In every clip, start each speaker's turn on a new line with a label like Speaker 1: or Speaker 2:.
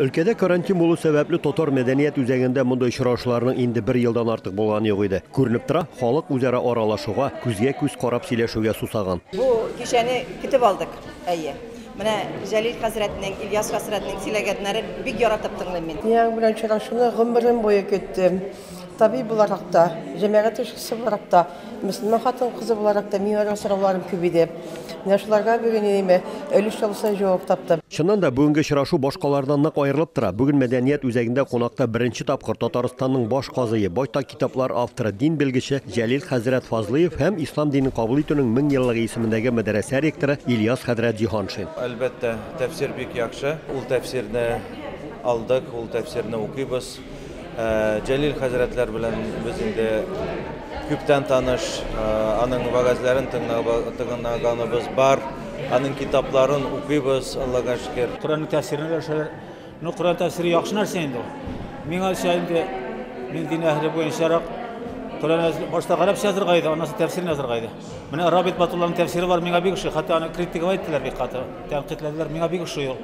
Speaker 1: Өлкәдә карантин булу сәбәпле татар мәдәният үзәгендә мондый очрашуларның инде бер елдан артык булганы юк иде. Күренеп тора, халык үзара аралашуга, күзгә-күз карап сөйләшүгә сусаган. Бу кичәне көтеп алдык, әйе. Менә Җәлил хәзрәтнең, Ильяс хәзрәтнең сөйләгәннәрен бик яратып тыңлыйм мин. Нияң белән очрашуны гомерем буе көттем. Табиб буларак та, җәмәгать эшчесе буларак та, мөселман хатын-кызы буларак та миңа да сорауларым күп иде. Менә шуларга бүген инеме өлеш чалусын җавап тапты. Чыннан да, бүгенге очрашу башкалардан нык аерылып тора. Бүген мәдәният үзәгендә кунакта беренче тапкыр Татарстанның баш казые, байтак китаплар авторы, дин белгече Җәлил хәзрәт Фазлыев һәм Ислам динен кабул итүнең мең еллыгы исемендәге мәдрәсә ректоры Ильяс хәзрәт Җиһаншин. Әлбәттә, тәфсир бик яхшы. Ул тәфсирне алдык, ул тәфсирне укыйбыз. Җәлил хәзрәтләр белән без инде күптән таныш, аның вәгазьләрен тыңлаганыбыз бар, аның китапларын укыйбыз, Аллага шөкер. Коръәннең тәфсирен өләшәләр. Ну, Коръән тәфсире яхшы нәрсә инде ул. Миңалча инде мин дин әһеле буенчарак, Коръән башта гарәпчә язырга иде, аннан соң тәфсирен язырга иде. Менә Рабит Батулланың тәфсире бар, миңа бик ошый. Хәтта аны критиковать иттеләр бик каты. Тәнкыйтьләделәр, миңа бик ошый ул.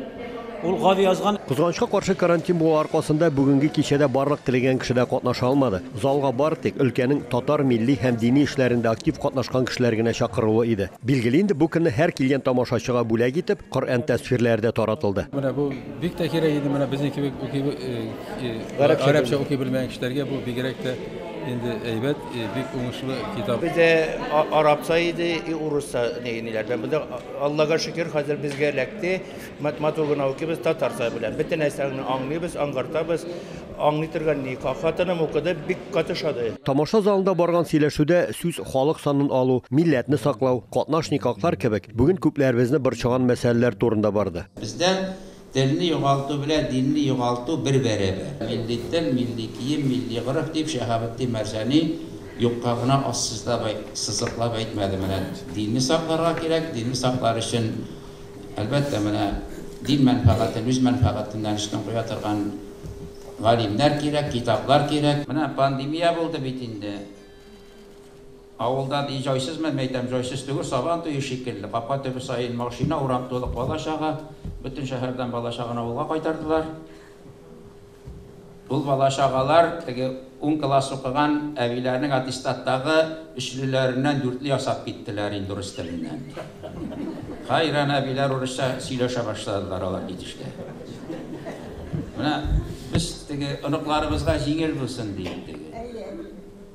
Speaker 1: Ул гади язган. Кызганычка каршы, карантин булу аркасында бүгенге кичәдә барлык теләгән кеше дә катнаша алмады. Залга бары тик өлкәнең татар милли һәм дини эшләрендә актив катнашкан кешеләр генә чакырулы иде. Билгеле инде, бу көнне һәр килгән тамашачыга бүләк итеп, Коръән тәсфирләре дә таратылды. Менә бу бик тә кирәк иде, менә безнең кебек укый, гарәпчә укый белмәгән кешеләргә бу бигрәк тә инде әйбәт. Бик уңышлы китап. Бездә арабса иде, и урысса ниләрдән. Бездә Аллага шөкер, хәзер безгә эләкте. Матмату гына укыбыз татарча белән. Бөтен нәрсәне аңлыйбыз, аңгартабыз. Аңлый торган ни, хатыным укыды, бик каты шады. Тамаша залында барган сөйләшүдә сүз халык санын алу, милләтне саклау, катнашник аклар кебек бүген күпләребезне борчыган мәсьәләләр турында барды. Бездә Телне югалту белән динне югалту бер бәрәбәр. Милли тел, милли кием, милли гореф, дип Шәһабетдин Мәрҗани юкка гына ассызлап, сызыклап әйтмәде. Менә динне сакларга кирәк, динне саклар өчен, әлбәттә, менә дин мәнфәгатен үз мәнфәгатеннән өстен куя торган галимнәр кирәк, китаплар кирәк. Менә пандемия булды бит инде. Авылдан и җайсызмы, мәйтәм, җайсыз түгел, Сабан туе шикелле, капка төбе саен машина, урам тулы бала-чага, бөтен шәһәрдән бала-чаганы авылга кайтардылар. Ул бала-чагалар теге ун класс укыган әбиләрнең аттестаттагы өчлеләреннән дүртле ясап киттеләр инде урыс теленнән. Хәйран әбиләр урысча сөйләшә башладылар алар китешкә. Менә без теге оныкларыбызга җиңел булсын диеп теге.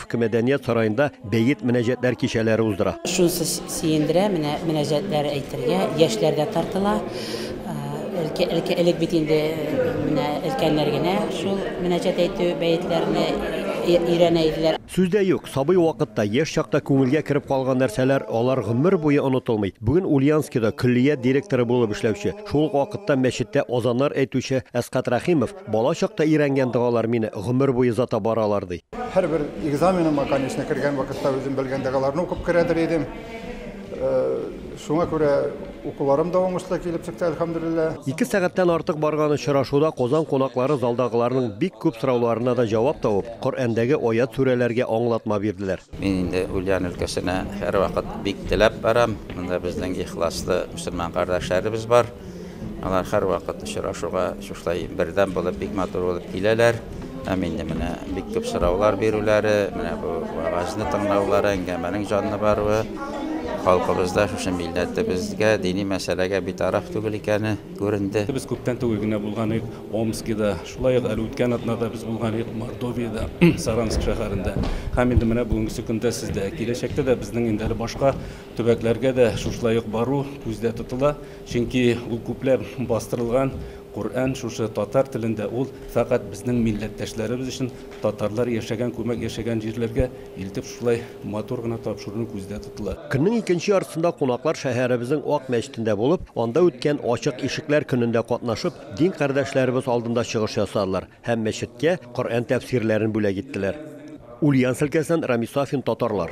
Speaker 1: Иске мәдәният сараенда бәет мөнәҗәтләр кичәләре уздыра. Шунысы сөендерә, менә мөнәҗәтләр әйтергә яшьләр дә тартыла. Элек, элек бит инде менә өлкәннәр генә шул мөнәҗәт әйтү бәетләрне өйрәнә иделәр. Сүз дә юк, сабый вакытта, яшь чакта күңелгә кереп калган нәрсәләр, алар гомер буе онытылмый. Бүген Ульяновскида көллият директоры булып эшләүче, шул ук вакытта мәчеттә азаннар әйтүче Әсгать Рәхимов Бала чакта өйрәнгән догалар мине гомер буе озата баралар, ди. Һәрбер экзаменыма, конечно, кергән вакытта үзем белгән догаларны укып керәдер идем. Э, шуңа күрә укуларым да уңышлы килеп чыкты, әлхәмдүлилләһ. Ике сәгатьтән артык барган очрашуда Казан кунаклары залдагыларның бик күп сорауларына да җавап табып, Коръәндәге аят-сүрәләргә аңлатма бирделәр. Мин инде Ульян өлкәсенә һәрвакыт бик теләп барам. Монда безнең ихласлы мөселман кардәшләребез бар. Алар һәрвакыт очрашуга шушылай бердәм булып, бик матур булып киләләр. Һәм инде менә бик күп сораулар бирүләре, менә бу вәгазьне тыңлаулары, әңгәмәнең җанлы баруы, халкыбызда шушы милләтебезгә, дини мәсьәләгә битараф түгел икәне күренде. Без күптән түгел генә булган идек Омскида, шулай ук әле үткән атнада без булган идек Мордовиядә, Саранск шәһәрендә. Һәм инде менә бүгенгесе көндә сездә. Киләчәктә дә безнең инде әле башка Төбәкләргә дә шушылай ук бару күздә тотыла, чөнки ул күпләп бастырылган Коръән шушы татар телендә, ул фәкать безнең милләттәшләребез өчен, татарлар яшәгән, күмәк яшәгән җирләргә илтеп шушылай матур гына тапшырыну күздә тотыла. Көннең икенче яртысында кунаклар шәһәребезнең Ак мәчетендә булып, анда үткән Ачык ишекләр көнендә катнашып, дин кардәшләребез алдында чыгыш ясадылар һәм мәчеткә Коръән тәфсирләрен бүләк иттеләр. Ульяновск өлкәсеннән Рамис Сафин, Татарлар.